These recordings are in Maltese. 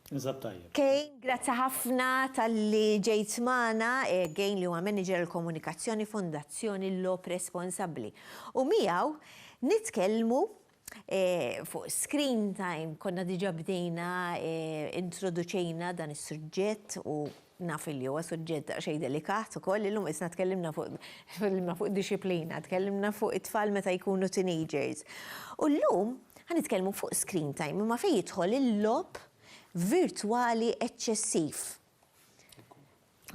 Eżatt tajjeb. Cain, grazzi ħafna talli ġejt magħna. Cain li huwa Manager għall-Komunikazzjoni Fondazzjoni Logħob Responsabbli. U miegħu nitkellmu fuq screen time, konna diġà bdejna introduċejna dan is-suġġett u Naf illi huwa suġġett daqsxejn delikat ukoll, illum isna tkellimna fuq tkellimna fuq dixxiplina, tkellimna fuq it-tfal meta jkunu teenagers. U llum ħa nitkellmu fuq screen time, imma fejn jidħol il-logħob virtwali eċċessiv.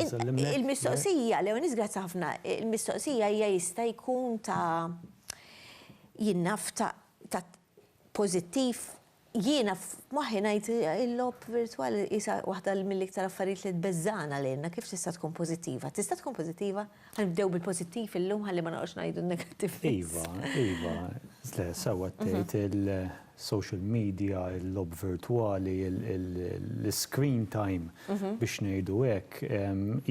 Il-mistoqsija, Leonis grazzi ħafna, il-mistoqsija hija jista' jkun ta' jien naf ta' pożittiv, jiena f'moħħi ngħid il-logħob virtwal qisha waħda mill-iktar affarijiet li tbeżżagħna lilna, kif tista' tkun pożittiva? Tista' tkun pożittiva? Ħa nibdew bil-pożittiv illum ħalli ma noqgħodx ngħidu n-negattiv biss. Iva, iva, le, sewwa qed tgħid il-social media, il-logħob virtwali, l-iscreen time biex ngħidu hekk,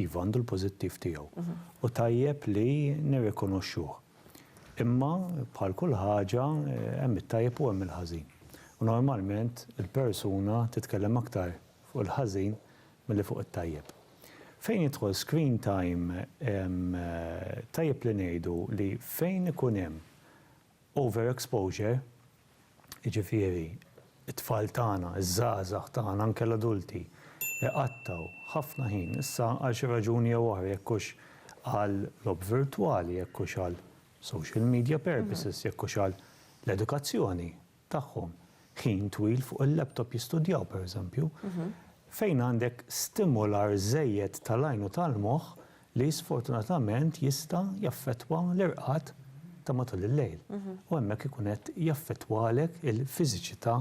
iva għandu l-pożittiv tiegħu u tajjeb li nirrikonoxxuh. Imma, bħal kull ħaġa, hemm it-tajjeb u hemm il-ħażin. U normalment il-persuna titkellem aktar fuq il-ħażin milli fuq it-tajjeb. Fejn jidħol screen time, tajjeb li ngħidu li fejn ikun hemm over-exposure, jiġifieri t-tfal tagħna, iż-żgħażagħ tagħna, anke l-adulti, iqattgħu ħafna ħin, issa għal xi raġuni jew oħra, jekk hux għal logħob virtwali, jekk hux għal social media purposes, jekk hux għal l-edukazzjoni tagħhom, ħin twil fuq il-laptop jistudjaw, pereżempju, fejn għandek stimular żejjed tal-għajn u tal-moħħ li sfortunatament jista' jaffettwa l-irqad ta' matul il-lejl u hemmhekk ikun qed jaffettwalek il-fiżiċità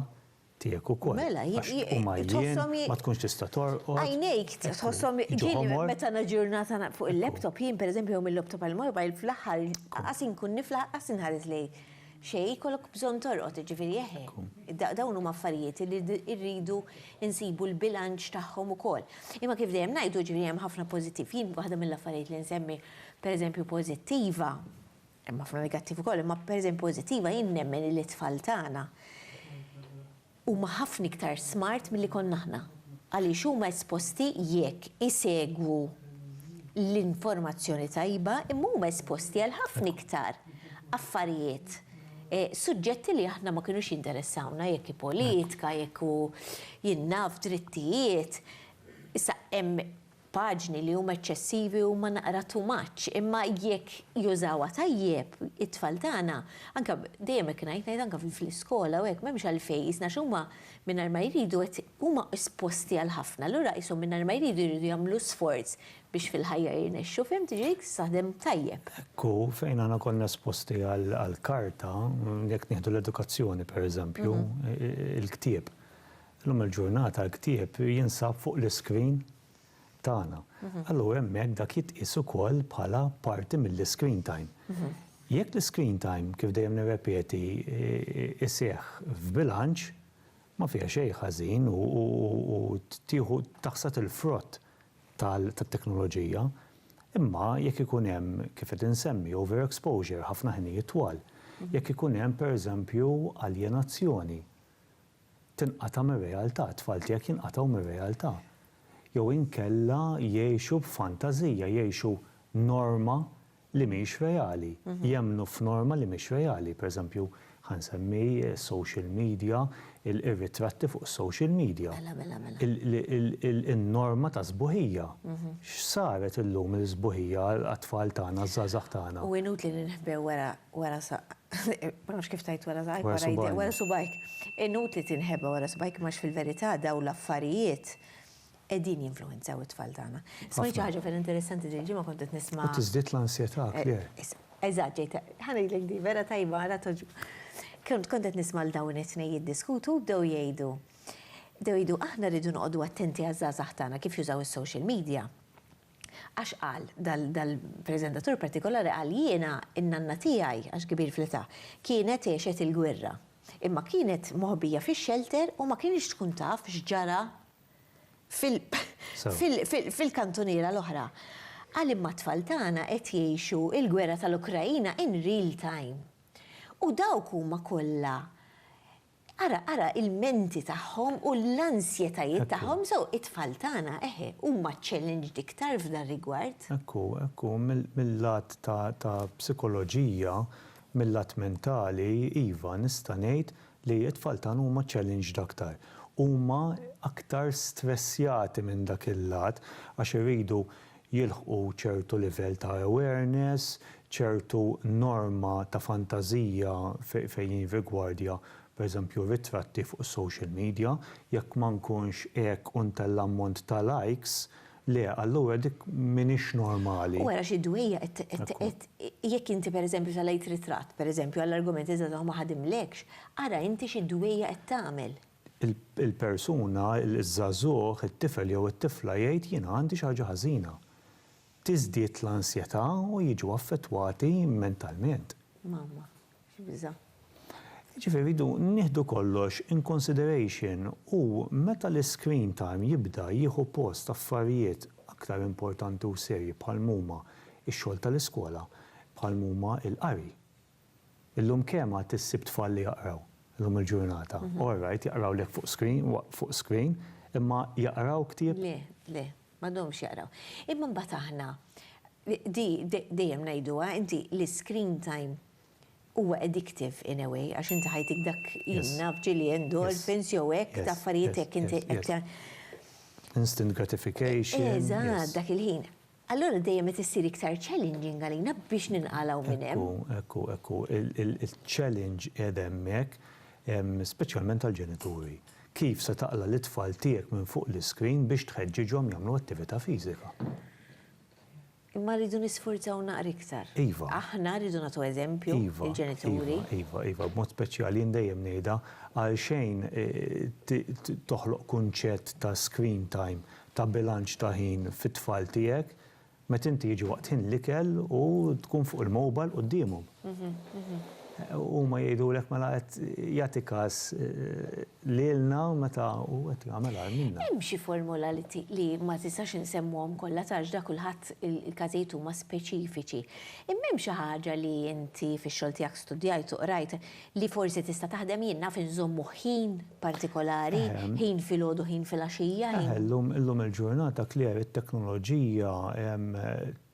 tiegħek ukoll. Mela, hi, hi, hi, hi, tħosshom hi. Ma tkunx tista' torqod. Għajnejk tħosshom ġieli meta na ġurnata fuq il-laptop jien pereżempju jew mill-laptop għall-mobile fl-aħħar qas inkun niflaħ qas inħares lejn Xejn, jkollok bżonn torqod, jiġifieri eħe. Dawn huma affarijiet li rridu nsibu l-bilanċ tagħhom ukoll. Imma kif dejjem ngħidu, jiġifieri hemm ħafna pożittiv. Jien waħda mill-affarijiet li nsemmi pereżempju pożittiva, hemm ħafna negattiv ukoll, imma pereżempju pożittiva jien nemmen li t-tfal tagħna Huma ħafna iktar smart milli konna aħna għaliex huma esposti jekk isegwu l-informazzjoni tajba imma huma esposti għal ħafna iktar affarijiet, suġġetti li aħna ma kinux jinteressawna jekk hi politika, jekk hu jien naf drittijiet. Issa hemm Paġni li huma eċċessivi huma naqra too much, imma jekk jużawha tajjeb it-tfal tagħna, anke dejjem hekk ngħid, ngħid anke fl-iskola u hekk, m'hemmx għalfejn qisna għax huma mingħajr ma jridu qed huma esposti għal ħafna, allura qishom mingħajr ma jridu jridu jagħmlu sforz biex fil-ħajja jirnexxu, fihimt, jiġifieri tista' taħdem tajjeb. Hekk hu, fejn aħna konna esposti għall-karta, jekk nieħdu l-edukazzjoni pereżempju, il-ktieb, Illum il-ġurnata l-ktieb jinsab fuq l-iskrin tagħna. Allura hemmhekk dak jitqies ukoll bħala parti mill-iskrin time. Jekk l-iskrin time, kif dejjem nirrepeti, iseħħ f'bilanċ, ma fiha xejn ħażin u tieħu taħsad il-frott tat-teknoloġija. Imma jekk ikun hemm, kif qed insemmi, overexposure, ħafna ħinijiet twal, jekk ikun hemm, pereżempju, aljenazzjoni, tinqata' mir-realtà, it-tfal tiegħek jinqatgħu mir-realtà. Jew inkella jgħixu b'fantażija, jgħixu norma li mhix reali, jemmnu f'norma li mhix reali. Per eżempju, ħa nsemmi s-social media, ir-ritratti fuq is-social media. Mela, mela, mela. In-norma ta' sbuħija. X'saret illum il-sbuħija għat-tfal tagħna, għaż-żgħażagħ tagħna? U inutli li nħbew wara Wara sa, ma nafx kif tgħid wara saqajk, wara jdejk, wara subgħajk. Inutli tinħeba wara subgħajk imma fil-verità dawn l-affarijiet qegħdin jinfluwenzaw it-tfal tagħna. Smajt xi ħaġa ferm interessanti din il-ġimgħa kont qed nisma'. U tiżdied l-ansjetà akjer. Eżatt, ġejt, ħa ngħidlek din, vera tajba, ara togħġbok. Kont qed nisma' lil dawn it-tnejn jiddiskutu u bdew jgħidu, bdew jgħidu aħna rridu noqogħdu attenti għaż-żgħażagħ tagħna kif jużaw is-social media. Għax qal, dal-preżentatur partikolari qal, jiena, in-nanna tiegħi, għax kbir fl-età, kienet għexet il-gwerra. Imma kienet moħbija fix-xelter u ma kinitx tkun taf x'ġara fil-kantuniera l-oħra. Qal imma t-tfal tagħna qed jgħixu l-gwerra tal-Ukraina in real time. U dawk huma kollha Ara, ara ilmenti tagħhom u l-ansjetajiet tagħhom, so it-tfal tagħna, eħe, huma challenged iktar f'dan rigward. Hekk hu, hekk hu, mil-lat ta' ta' psikoloġija, mil-lat mentali, iva, nista' ngħid li t-tfal tagħna huma challenged aktar. Huma aktar stressjati minn dak il-lat għax iridu jilħqu ċertu livell ta' awareness, ċertu norma ta' fantażija fejn jirrigwardja pereżempju ritratti fuq is-social media, jekk ma nkunx hekk u ntella' ammont ta' likes, le, allura dik m'iniex normali. U ara xi dwejjaq qed qed jekk inti pereżempju tellgħet ritratt pereżempju għall-argument iżda dan ma ħadimlekx, ara inti xi dwejjaq qed tagħmel. il-persuna, iż-żagħżugħ, it-tifel jew it-tifla jgħid jiena għandi xi ħaġa ħażina. Tiżdied l-ansjetà u jiġu affettwati mentalment. Mamma, x'biża'. Jiġifieri rridu nieħdu kollox in consideration u meta l-iscreen time jibda jieħu post affarijiet aktar importanti u serji bħal m'huma x-xogħol tal-iskola, bħal m'huma l-qari, Illum kemm għad issib tfal li jaqraw, illum il-ġurnata? All right, jaqrawlek fuq screen, fuq screen, imma jaqraw ktieb? Le, le, m'għadhomx jaqraw. Imma mbagħad aħna, di dejjem ngħiduha, inti l-iscreen time huwa addictive in a way, għax inti ħajtik dak, jien naf ġieli endorphins jew hekk ta' affarijiet hekk inti qed. Instant gratification. Eżatt, dak il-ħin. allura dejjem qed issir iktar challenging għalina biex ninqalgħu minn hemm. Ekku, ekku, ekku. Il-challenge qiegħed hemmhekk, speċjalment għall-ġenituri. Kif se taqla' lit-tfal tiegħek minn fuq l-iscreen biex tħeġġiġhom jagħmlu attività fiżika? Imma rridu nisfurzaw naqra iktar. Iva. Aħna rridu nagħtu eżempju lill-ġenituri. Iva, iva, iva, iva. B'mod speċjali jien dejjem ngħidha, għalxejn toħloq kunċett ta' screen time ta' bilanċ ta' ħin fit-tfal tiegħek meta inti jiġi waqt ħin l-ikel u tkun fuq il-mobile quddiemhom. Huma jgħidulek mela qed jagħti każ lilna meta hu qed jagħmel agħar minna. Hemm xi formula li ma tistax insemmuhom kollha għax ta' kulħadd il-każijiet huma speċifiċi. Imma hemm xi ħaġa li inti fix-xogħol tiegħek studjajt u qrajt Li forsi tista' taħdem jien naf inżommu ħin partikolari, ħin filgħodu, ħin filgħaxija, ħin. Eħe, llum il-ġurnata clear it-teknoloġija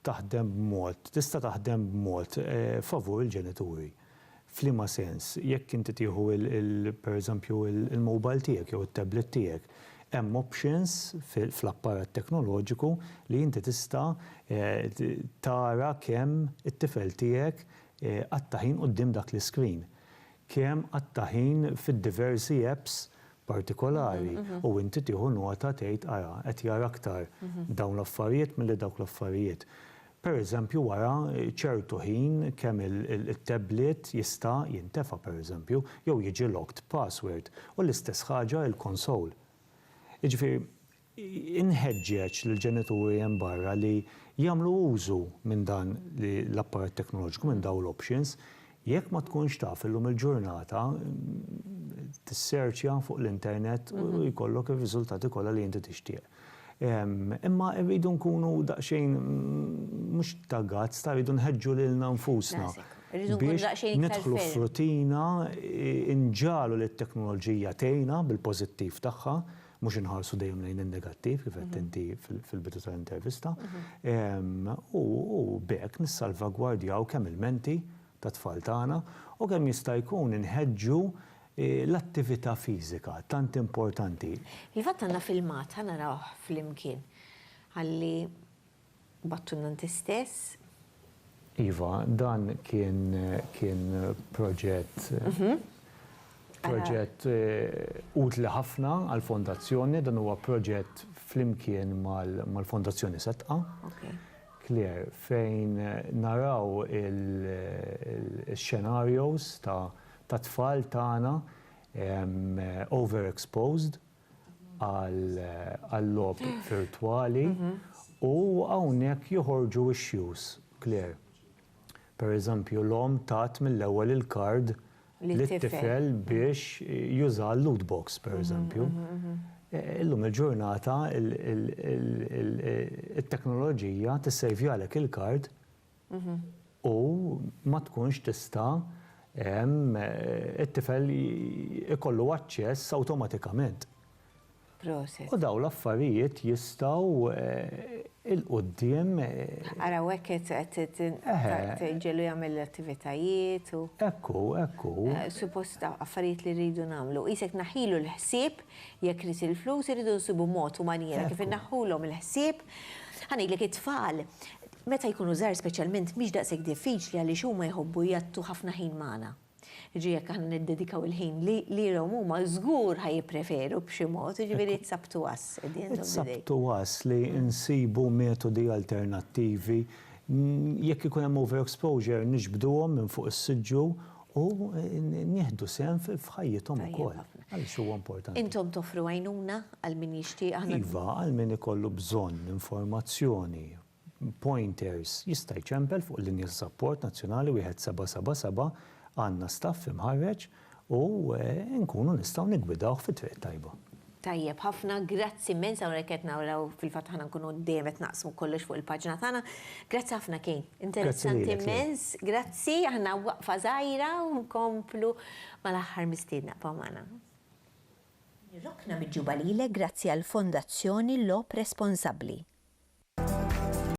taħdem b'mod, tista' taħdem b'mod favur il-ġenituri. F'liema sens? Jekk inti tieħu per eżempju il-mobile tiegħek jew it-tablet tiegħek, hemm options fl-apparat teknoloġiku li inti tista' tara kemm it-tifel tiegħek Qatta' ħin quddiem dak l-iskrin. Kemm qatta' ħin fid-diversi apps partikolari u inti tieħu nota tgħid ara qed jara aktar dawn l-affarijiet milli dawk l-affarijiet. Pereżempju wara ċertu ħin kemm it-tablet jista' jintefa' pereżempju jew jiġi locked password u l-istess ħaġa il-console. Jiġifieri Inħeġġeġ lill-ġenituri hemm barra li jagħmlu użu minn dan l-apparat teknoloġiku, minn dawn l-options. Jekk ma tkunx taf, illum il-ġurnata tissearchja fuq l-internet u jkollok ir-riżultati kollha li inti tixtieq. Imma rridu nkunu daqsxejn mhux ta' guts, ta' rridu nħeġġu lilna nfusna biex nidħlu f'rutina, inġagħlu li t-teknoloġija tgħinna bil-pożittiv tagħha, mhux inħarsu dejjem lejn in-negattiv kif għedt inti fil-bidu tal-intervista, u b'hekk nissalvagwardjaw kemm il-menti tat-tfal tagħna u kemm jista' jkun inħeġġu l-attività fiżika tant importanti. Fil-fatt għandna filmat, ħa narawh flimkien, ħalli Battulna inti stess. Iva, dan kien kien proġett proġett utli ħafna għall-Fondazzjoni, dan huwa proġett flimkien mal-Fondazzjoni Setqa. Claire, fejn naraw il-xenarios ta' tfal tagħna over exposed, għal-logħob virtwali u hawnhekk joħorġu x-xjuż, Claire. Per eżempju, l-omm tat mill-ewwel il-kard lit-tifel biex juża l-loot box, per eżempju. Illum il-ġurnata it-teknoloġija tissejvjalek il-kard u ma tkunx tista' it-tifel ikollu aċċess awtomatikament. Proset. U dawn l-affarijiet jistgħu 'il quddiem. Ara u hekk qed iġġiegħlu jagħmel l-attivitajiet u. Hekk hu, hekk hu. Suppost affarijiet li rridu nagħmlu. Qisek tnaħħilu l-ħsieb jekk irid il-flus irridu nsibu mod u manjiera kif inneħħulhom il-ħsieb. Ħa ngħidlek it-tfal Meta jkunu żgħar speċjalment mhix daqshekk diffiċli għaliex huma jħobbu jgħatttu ħafna ħin magħna. Jiġri jekk aħna niddedikaw il-ħin li lilhom huma żgur ħa jippreferu b'xi mod, jiġifieri it's up to us at the end of the day. It's up to us li nsibu metodi alternattivi. Jekk ikun hemm overexposure niġbduhom minn fuq is-siġġu u nieħdu sehem f'ħajjithom ukoll għaliex huwa importanti. Intom toffru għajnuna għal min jixtieqha? Iva, għal min ikollu bżonn informazzjoni, pointers, jista' jċempel fuq il-linja ta' sapport nazzjonali 1777, għandna staff imħarreġ u nkunu nistgħu niggwidawh fit-triq it-tajba. Tajjeb ħafna, grazzi immens, hawnhekk qed naraw fil-fatt aħna nkunu dejjem qed naqsmu kollox fuq il-paġna tagħna. Grazzi ħafna Kane, interessanti immens, grazzi, aħna waqfa żgħira u nkomplu mal-aħħar mistiedna, bqgħu magħna. Nirrokna miġjuba lilek grazzi għall-Fondazzjoni Logħob Responsabbli.